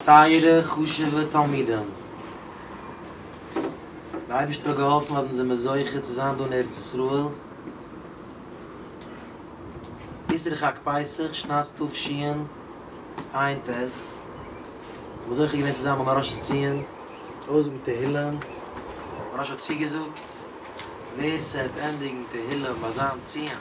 טייערע חשוב'ע תלמידים, דער אייבערשטער האט געהאלפן אז אונז זעמיר זוכה צו זיין דא אין ארץ ישראל, איסור חג פסח שנת תשע"ן, עיין ט, אונז זעמיר זוכה געווען צו זיין ביים הראש האס ציון, אויסזאגן תהילים, דער הראש האט צוגעזאגט, ווער ס'העט ענדיגן תהילים ביי זיין ציון,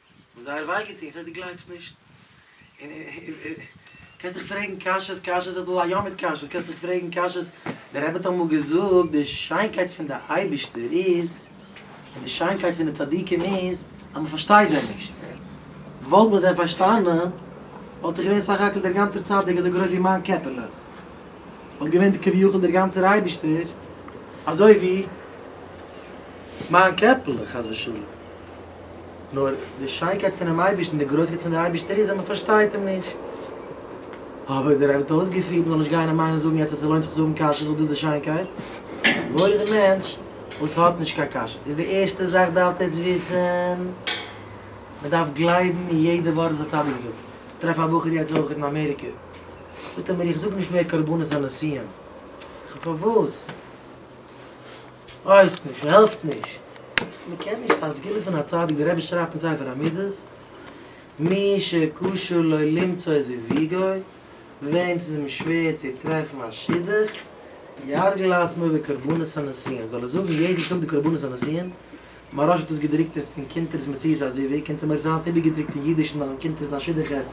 און זייער וויי געטון, איך ווייס דו גלייבסט נישט, און קענסט דיך פרעגן קשיות קשיות, ס'איז דא א ים מיט קשיות, קענסט דיך פרעגן קשיות, דער רבי האט אמאל געזאגט, די שיינקייט פון די אייבישטער איז, און די שיינקייט פון די צדיקים איז, אז מען פארשטייט זיי נישט, וואלט מען זיי פארשטאנען, וואלט איך געווען סך הכל דער גאנצער צדיק אזוי גרויס ווי מיין קעפעלע, וואלט געווען כביכול דער גאנצער אייבישטער אזוי ווי מיין קעפעלע, חס ושלום. נאר די שיינקייט פונעם אייבערשטן, די גרויסקייט וואס דער אייבערשטער איז, אז מען פארשטייט אים נישט. אבער דער רבי האט אויסגעפירט, מען זאל נישט גיין און מיינען זאגן יעצט אז ס'לוינט זיך צו האבן קשיות ווייל דאס איז די שיינקייט. וואויל איז די מענטש וואס האט נישט קיין קשיות. איז די ערשטע זאך דארפט עטץ וויסן, מען דארף גלייבן אין יעדע ווארט וואס א צדיק זאגט. איך טרעף א בחור יעצט אויך אין אמעריקע, זאגט ער מיר איך זאג נישט מער קרבנות הנשיאים. איך זאג פארוואס? ווייס נישט, העלפט נישט. מען קען נישט א סגולה פון א צדיק, דער רבי שרייבט אין ספר המידות, מי שקשה לו למצוא זיוויגו, וועם ס'איז אים שווער צו טרעפן א שידוך, יהרגל עצמו בקרבנות הנישואין, זאל ער זאגן יעדן טאג די קרבנות הנישואין, מהראש האט עס געדרוקט עס אין קונטרס מציאות הזיווג, און צו מיר איז היינט איבערגעדרוקט אין אידיש נאכן קונטרס דיין שידוך גייט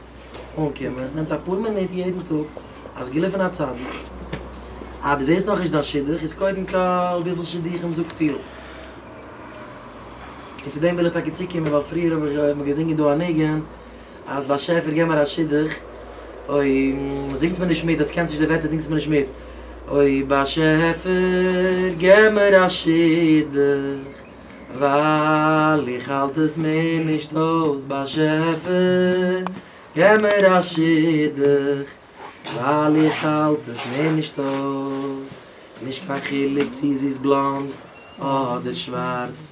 אנקומען, עס נעמט אפאר מינוט יעדן טאג, אז געלופען א צדיק, אז דו זעסט נאכנישט דיין שידוך איז קודם כל וויפיל שידוכים זאגסטו אפ? און צו דעם וויל איך טאקע צוקומען ווייל פריער האב איך מיר געזינגען דא א ניגון, אז באשעפער געב מיר א שידוך, אוי זינגטס מיר נישט מיט, עטס קענטס נישט די ווערטער זינגטס מיר נישט מיט, אוי באשעפער געב מיר א שידוך, ווייל איך האלט עס מער נישט אויס, באשעפער געב מיר א שידוך, ווייל איך האלט עס מער נישט אויס, נישט קיין חילוק צו זי איז בלאנד אדער שווארץ,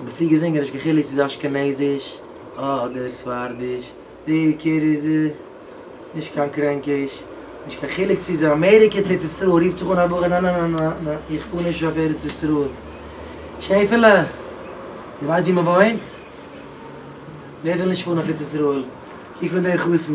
אבער פרי געזונגען נישט קיין חילוק צו ס'איז אשכנזיש אדער ספרדיש די עיקר איז נישט קיין קרענקיש נישט קיין חילוק צו ס'איז אמעריקע צו ארץ ישראל רופט זיך אן א בחור נא נא נא נא נא איך פאר נישט אויף ארץ ישראל שעפעלע די ווייסט ווי מ'וואוינט? ווער וויל נישט פארן אויף ארץ ישראל קוק אן דער חתן.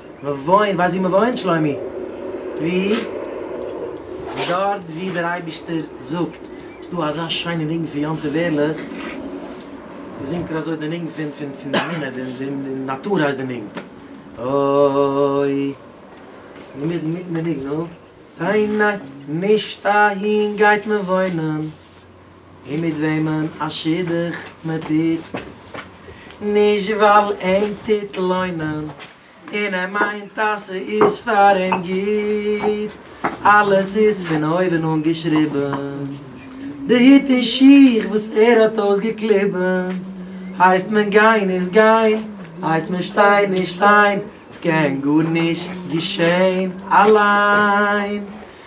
מ'וואוינט, ווייסט ווי מ'וואוינט שלומי? ווי? דארט ווי דער אייבישטער זאגט, ס'איז דא אזא שיינע ניגון פון יום טוב ערליך, ווי זינגט ער אזוי די ניגון פון פון פון די אמונה, די די נאטור הייסט די ניגון, אוי, אינמיטן מיטן די ניגון, נו, ניין ניין, נישט אהין גייט מען וואוינען. און מיט וועמען א שידוך מען טוט, נישט ווייל אים טוט לוינען און ער מיינט אז ס'איז פאר אים גוט, אלעס איז פון אויבן אן געשריבן, די הוט און שיך וואס ער האט אויסגעקליבן, הייסט מען גיין איז גיין, הייסט מען שטיין איז שטיין, ס'קען גארנישט געשען אליין.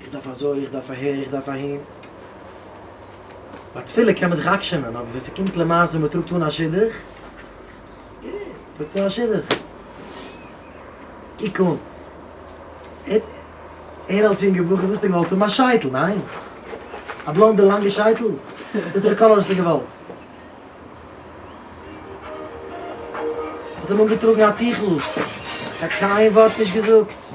איך דארף אזוי, איך דארף אהער, איך דארף אהין. ביי תפילה קען מען זיך עקשנ'ען, אבער ווען ס'קומט למעשה מען טראגט אן א שידוך, גוט, טראגט אן א שידוך. קוק אן, ער אלס יונגער בחור וואלסטו געוואלט האבן א שייטל, ניין? א בלאנדע לאנגע שייטל? וואסערע קאליר האסטו געוואלט? האט אים אנגעטראגן א טיכל, קיין ווארט נישט געזאגט.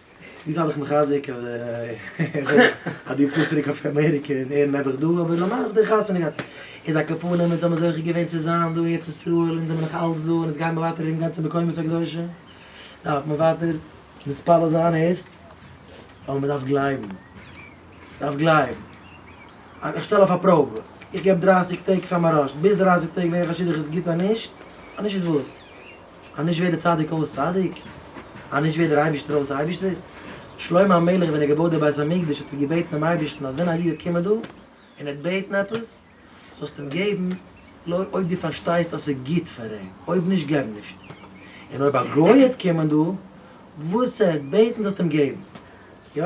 דיר זיי דיך מחזק אז אז דו פארסט צוריק אויף אמעריקע און ער נעבעך דא אבער למעשה די חתונה גייט איז א קאפאלע מיט זיי האבן זוכה געווען צו זיין דא אין ארץ ישראל אונז זעמיר נאך אלץ דא און אונז גייען מיר ווייטער ארום גיין צו מקומות הקדושים דארף מען ווייטער מתפלל זיין הערסט? אבער מען דארף גלייבן דארף גלייבן אז איך שטעל אויף א פראבע איך געב דרייסיג טעג פאר מרשת ביז דרייסיג טעג ווער איך א שידוך איז גוט אנישט אנישט איז וואס? אז נישט ווערט דער צדיק אויס צדיק, אז נישט ווערט דער אייבישטער אויס אייבישטער. שלמה המלך ווען ער האט געבויט די בית המקדש האט ער געבעטן דעם אייבישטן אז ווען א איד וועט קומען דא און ער וועט בעטן עפעס, זאלסט אים געבן לויט אויב דו פארשטייסט אז ס'איז גוט פאר אים, אויב נישט געב נישט. און אויב א גוי וועט קומען דא, וואס ער וועט בעטן זאלסטו אים געבן. יא.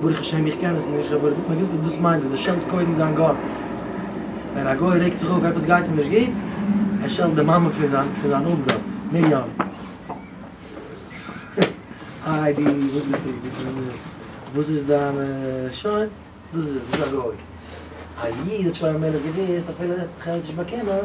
ברוך השם איך קען עס נישט, אבער מען וויסט וואס דאס מיינט אז ער שעלט קודם זיין גאט, ווען א גוי רעגט זיך אויף עפעס גייט אים נישט גוט, ער שעלט די מאמע פון זיין פון זיין אפגאט, מרים. איי די וואס ביסטו וואס איז די וואס איז דיין שוין דאס איז ער דאס איז א גוי, א איד האט שלמה המלך געוויסט אפילו איך וועל עס נישט באקענען,